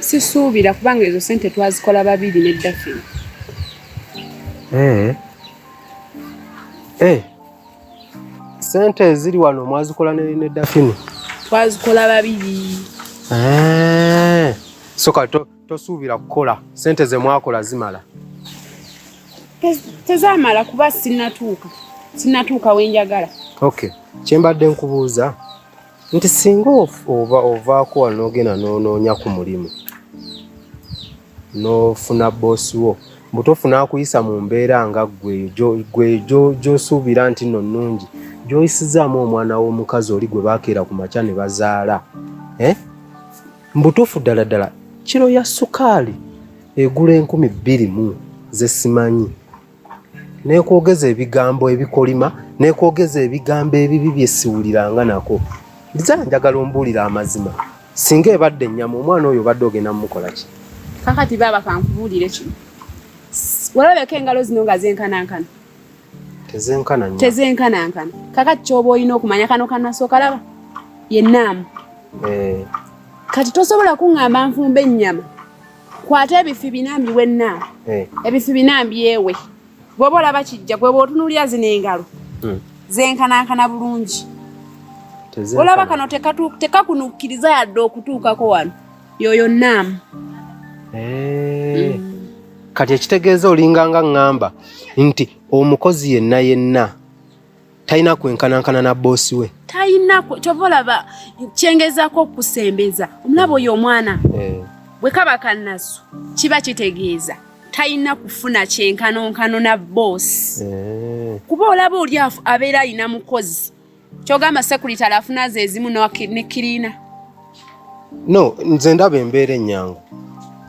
sisuubira kubanga ezo sente twazikola babiri ne dafin eh. eh. sente eziri wano mwazikola ne dafini twazikola babiri eh. soka tosuubira kukola sente zemwakola zimala tezamala kuba sinatuuka sinatuuka wenjagala okay kyembadde nkubuuza nti singa oba ovaako wano n'ogenda n'onoonya ku mulimu n'ofuna boosi wo mbu tofuna akuyisa mu mbeera nga gwe gyosuubira nti no nnungi gyoyisizaamu omwana w'omukazi oli gwe baakeera ku makya ne bazaala eh? mbutuufu ddala ddala kiro ya sukaali egula enkumi bbiri mu zesimanyi nekwogeza ebigambo ebikolima nekwogeza ebigambo ebibi byesiwuliranga nako nze njagala ombuulira amazima singa ebadde ennyama omwana oyo obadde ogenda mumukolaki kakati baaba kankubuulire kino walabeko engalo zino nga zenkanankana tezenkanankana kakati kyoba olina okumanya kano kanasookalaba yenaamu eh. kati tosobola kuŋŋamba nfumba ennyama kwata ebifi binambi wenna eh. ebifi binambi ewe gweba olaba kijja gweba otunulira zino engalo hmm. zenkanankana bulungi olaba kano tekakunukkiriza yadde okutuukako wano yoyo naamu eh. hmm. kati ekitegeeza olinganga ŋŋamba nti omukozi yenna yenna talina kwenkanankana na boosi we talina kyova olaba kyengezako okusembeza omulaba oyo omwana eh. bwe kaba kanasu kiba kitegeeza talina kufuna kyenkanonkano na boosi eh. kuba olaba oli abeera alina mukozi kyogamba sekurity alafuna zeezimu ne kiriina no nze ndaba embeera ennyangu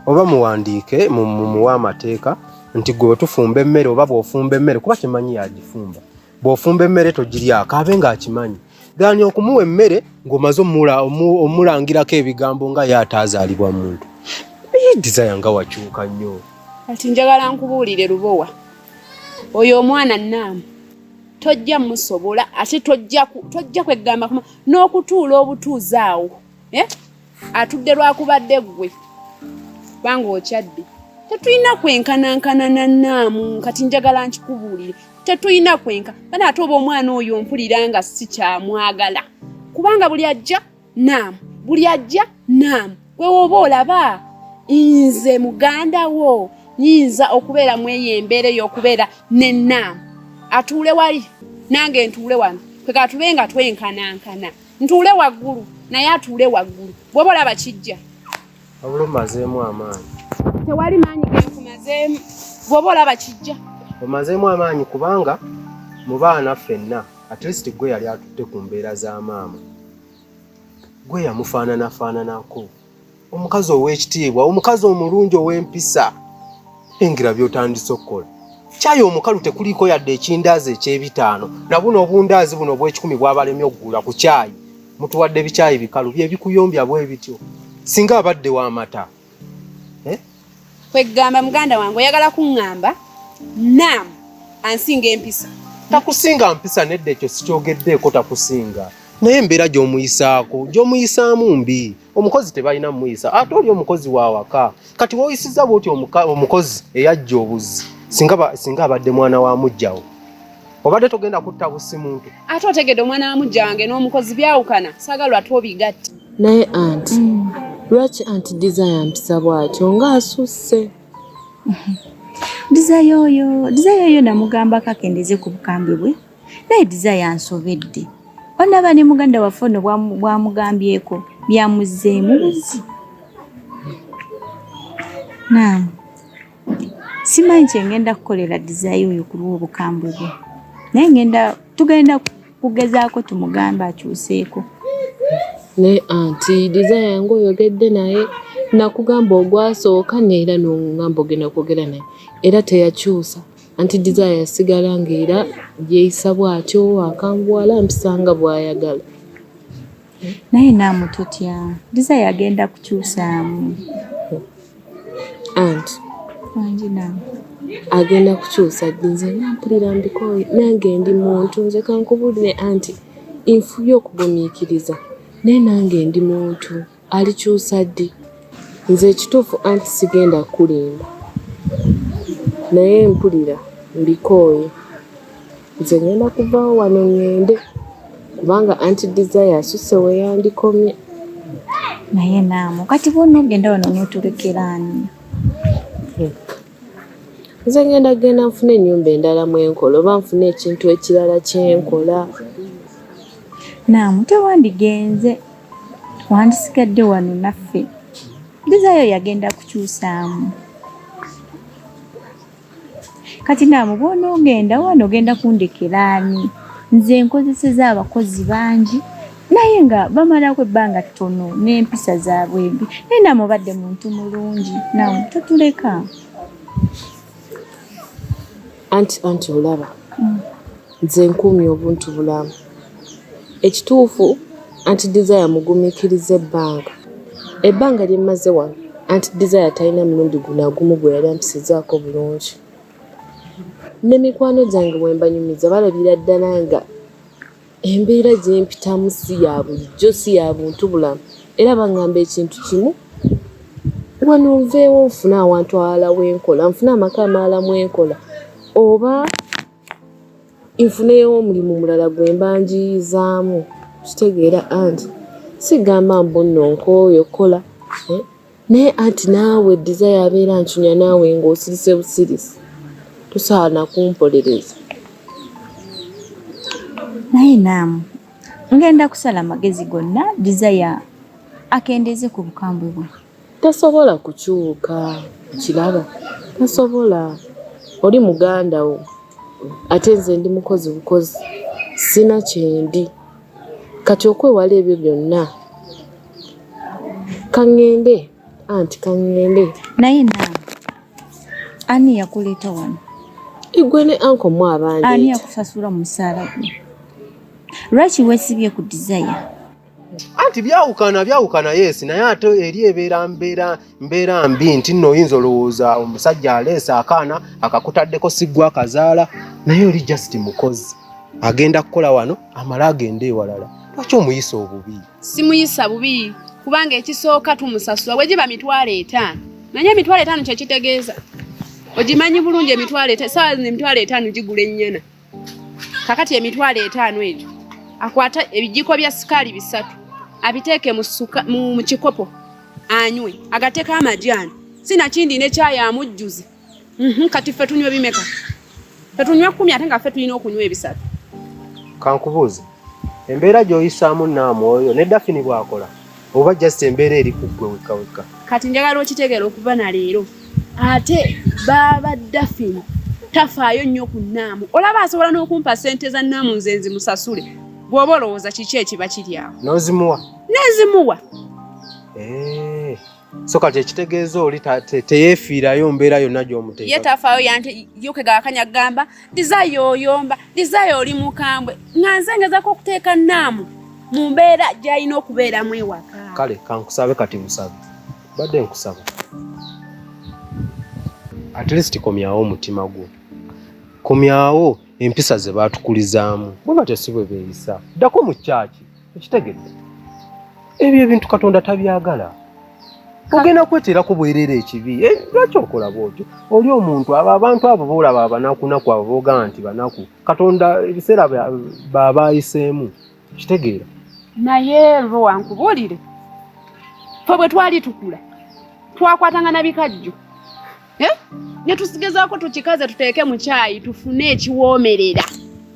oba muwandiike mumuwa amateeka nti gwe wetufumba emmere oba bwofumba emmere kuba kimanyi yagifumba bwofumba emmere togiryako abe ng'akimanyi gani okumuwa emmere ng'omaze omulangirako ebigambo nga ye ataazaalibwa muntu desire nga wakyuka nnyo kati njagala nkubuulire lubowa oyo omwana naamu tojja musobola ate tojja tojja kwegamba kuma n'okutuula obutuuzi awo eh? atudde lwakubadde ggwe kubanga okyadde tetulina kwenkanankana nanaamu kati njagala nkikubuulire tetulina kwenka bana ate oba omwana oyo mpulira nga sikyamwagala kubanga buli ajja naamu buli ajja naamu gwe woba olaba nze muganda wo nyinza okubeera mu eyo embeera ey'okubeera ne naamu atuule wali nange ntuule wano kweka tube nga twenkanankana ntuule waggulu naye atuule waggulu bwoba olaba kijja Wabula omazeemu amaanyi. Tewali maanyi genkumazeemu bwoba olaba kijja. Omazeemu amaanyi kubanga mu baana ffenna at least gwe yali atutte ku mbeera za maama gwe yamufaananafaananako omukazi ow'ekitiibwa omukazi omulungi ow'empisa engira by'otandise okukola kyayi omukalu tekuliiko yadde ekindaazi eky'ebitaano nabuno obundaazi buno obw'ekikumi bwabalemye okugula ku kyayi mutuwadde bikyayi bikalu byebikuyombya bwe bityo singa abadde wamata eh? kwegamba muganda wange oyagala kuŋŋamba nam ansinga empisa takusinga mpisa nedda ekyo sikyogeddeeko takusinga naye embeera gy'omuyisaako gy'omuyisaamu mbi omukozi tebalina muyisa ate oli omukozi wawaka kati woyisiza bwoti omukozi eyajja obuzi singa abadde mwana wa mujjawo obadde togenda kutta busi muntu ate otegede omwana wa mujja wange n'omukozi byawukana sagalwa twobigatta naye anti mm. lwaki anti desire mpisa bwatyo ngaasusse desire oyo desire oyo namugamba kakendeze ku bukambwe bwe naye desire yansobedde onaba ne muganda waffe ono bwamugambyeko byamuzzeemu buzi naam simanyi kyengenda kukolera desire oyo ku lw'obukambwe bwe naye ngenda tugenda kugezaako tumugambe akyuseeko naye anti desire yange oyogedde naye nakugamba ogwasooka neera nongamba ogenda kwogera naye era teyakyusa Anti Desire yasigala ng'era yeeyisa bw'atyo, akambuwala ampisa nga bw'ayagala. Naye naamu totya, Desire agenda kukyusaamu. Anti. Wangi naamu. Agenda kukyusa nze nampulira mbikooye nange ndi muntu nze kankubulire anti nfuye okugumiikiriza naye nange ndi muntu. Alikyusa ddi? Nze ekituufu anti sigenda kukulimba naye mpulira mbikooye. Nze ngenda kuvaawo wano ŋŋende kubanga anti Desire asusse we yandikomye. Naye Naamu kati bw'onoogenda wano onootulekera ani? Nze ngenda kugenda nfune ennyumba endala mwe nkola oba nfune ekintu ekirala kye nkola. Naamu tewandigenze. wandisigadde wano naffe dizaayo yagenda kukyusaamu kati naamu bwonoogenda wano ogenda kundekeraani nze nkozeseza abakozi bangi naye nga bamalako ebbanga ttono n'empisa zaabwe embi naye naamu obadde muntu mulungi naamu totuleka anti anti olaba nze nkuumye obuntu bulamu ekituufu anti desire mugumikiriza ebbanga ebbanga lyemmaze wano anti desire talina mulundi gunagumu gwe yali ampisizaako bulungi ne mikwano gyange wembanyumiza balabira ddala nga Embeera gye mpitamu si ya bulijjo, si ya buntubulamu era baŋŋamba ekintu kimu, wano nveewo nfune awantu awalala we nkola, nfune amaka amalala mwe nkola oba nfuneyo omulimu mulala gwe mba njiiyizaamu. Okitegeera anti sigamba mbu nno nkooye okukola. Naye anti naawe Desire abeera ancunya naawe ng'osirise busirisi. Tosaana kumpolereza. Naye naamu ngenda kusala amagezi gonna Desire akendeeze ku bukambwe bwe. Tasobola kukyuka okiraba, tasobola. Oli muganda wo ate nze ndi mukozi bukozi, sirina kyendi. Kati okwewala ebyo byonna. Kangende anti kangende. Naye na ani yakuleeta wano? Igwe ne anko mu abandi. Ani yakusasula musaala gwe? Lwaki wesibye ku desire? Anti byawukana byawukana yes naye ate eri ebeera mbeera mbeera mbi nti nno oyinza olowooza omusajja aleesa akaana akakutaddeko siggwa kazaala naye oli just mukozi agenda kukola wano amale agende ewalala lwaki omuyisa obubi? simuyisa bubi kubanga ekisooka tumusasula wegiba mitwalo etaano naye emitwalo etaano kyekitegeeza ogimanyi bulungi emitwalo saawa zino emitwalo etaano gigula ennyana kakati emitwalo etaano egyo akwata ebijiko bya sikaali bisatu abiteeke mu kikopo anywe agateeko amajaani sinakindi nekyayi amujjuze Mhm, kati ffe tunywa bimeka? Ffe tunywa kkumi ate nga ffe tulina okunywa ebisatu. Kankubuuze, embeera gy'oyisaamu Namwoyo ne Dafini bw'akola oba just embeera eri ku ggwe wekka wekka? Kati njagala okitegeera okuva na leero ate baaba Dafini tafaayo nnyo ku Naamu. Olaba asobola n'okumpa ssente za Naamu nze nzimusasule. Bw'oba olowooza kiki ekiba kiri awo? N'ozimuwa? N'ezimuwa. Eh. so kati ekitegeeza oli teyeefiirayo mbeera yonna gy'omuteeka ye tafaayo yante yokega akanya gamba dizaayo oyomba dizaayo oli mukambwe nga nze ngezako okuteeka naamu mu mbeera gy'alina okubeeramu ewaka kale kankusabe kati musabe badde nkusaba at least komyawo omutima gwo komyawo empisa ze baatukulizaamu bwe batyo si bwe beeyisa ddako mu kyaki ekitegedde ebyo ebintu katonda tabyagala ogenda kweterako bwerera ekibi eh, lwaki okola bwotyo oli omuntu abo abantu abo boolaba abanakunaku abo boogamba nti banaku katonda ebiseera babaayiseemu kitegeera naye lwo wankubuulire fe bwe twali tukula twakwatanga na bikajjo eh? ne tusigezaako tukikaze tuteeke mu kyayi tufune ekiwoomerera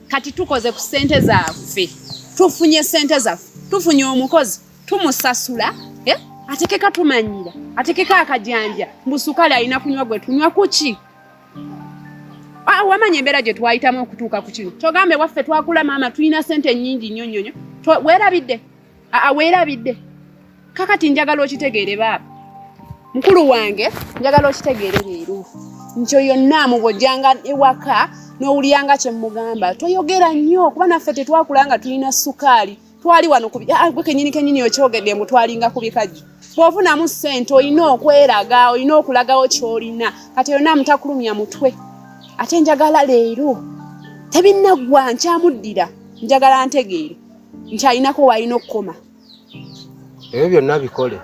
kati tukoze ku ssente zaffe tufunye ssente zaffe tufunye omukozi tumusasula eh? atekeka tumanyira atekeka akajanja mbu sukali alina kunywa gwe tunywa kuki ah, wamanya embeera gye twayitamu okutuuka ku kino kyogambe waffe twakula maama tulina ssente nnyingi nnyo nnyo nnyo werabidde aa weerabidde kakati njagala okitegeere baaba mukulu wange njagala okitegeere leero nti oyo naamu bwojjanga ewaka n'owulyanga kye mmugamba toyogera nnyo kuba naffe tetwakula nga tulina sukaali twali wano kubi ah, gwe kenyini kenyini okyogedde mbu twalinga ku bikajjo bw'ofunamu ssente olina okweraga olina okulagawo ky'olina kati oyo naamu takulumya mutwe ate njagala leero tebinnaggwa nkyamuddira njagala ntegeere nti alinako walina okukoma ebyo byonna bikole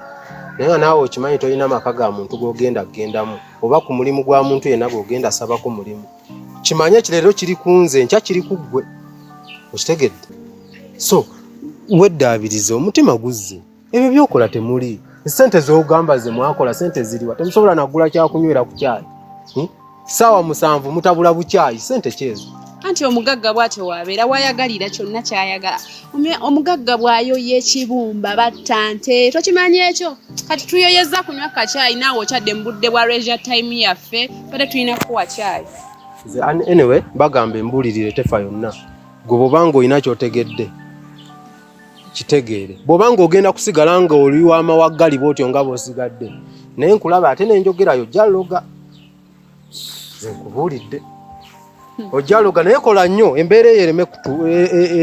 naye nga naawe okimanyi tolina maka ga muntu gogenda kugendamu oba ku mulimu gwa muntu yenna gogenda sabako mulimu kimanye ekireero kiri ku nze nkya kiri ku ggwe okitegedde so weddaabiriza omutima guzze ebyo byokola temuli sente zogamba ze mwakola sente ziriwa temusobola nagula kyakunywera ku kyayi hmm? saawa musanvu mutabula bukyayi sente kyezo anti omugagga bwatyo wabeera wayagalira kyonna kyayagala omugagga bwayoya ekibumba batta nte tokimanyi ekyo kati tuyoyeza kunywa kakyayi naawe okyadde mu budde bwa resia time yaffe bade tulina kukuwa kyayi anyway bagamba embulirire tefa yonna gwe bwobanga olina kyotegedde kitegeere bwoba nga ogenda kusigala nga oli wamawaggali bwotyo nga bosigadde naye nkulaba ate nenjogerayo jaloga nkubuulidde ojaloga naye kola nnyo embeera eyo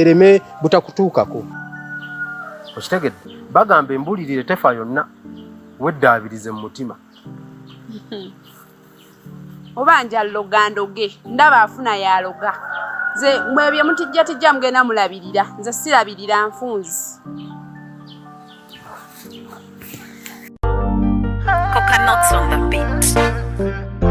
ereme e, e, butakutuukako okitegedde bagamba embulirire tefa yonna weddaabirize mu mutima oba nja loga ndoge ndaba afuna yaloga nze mwe bye mutijja tijja mugenda mulabirira nze sirabirira nfunzi Coconuts on the beat.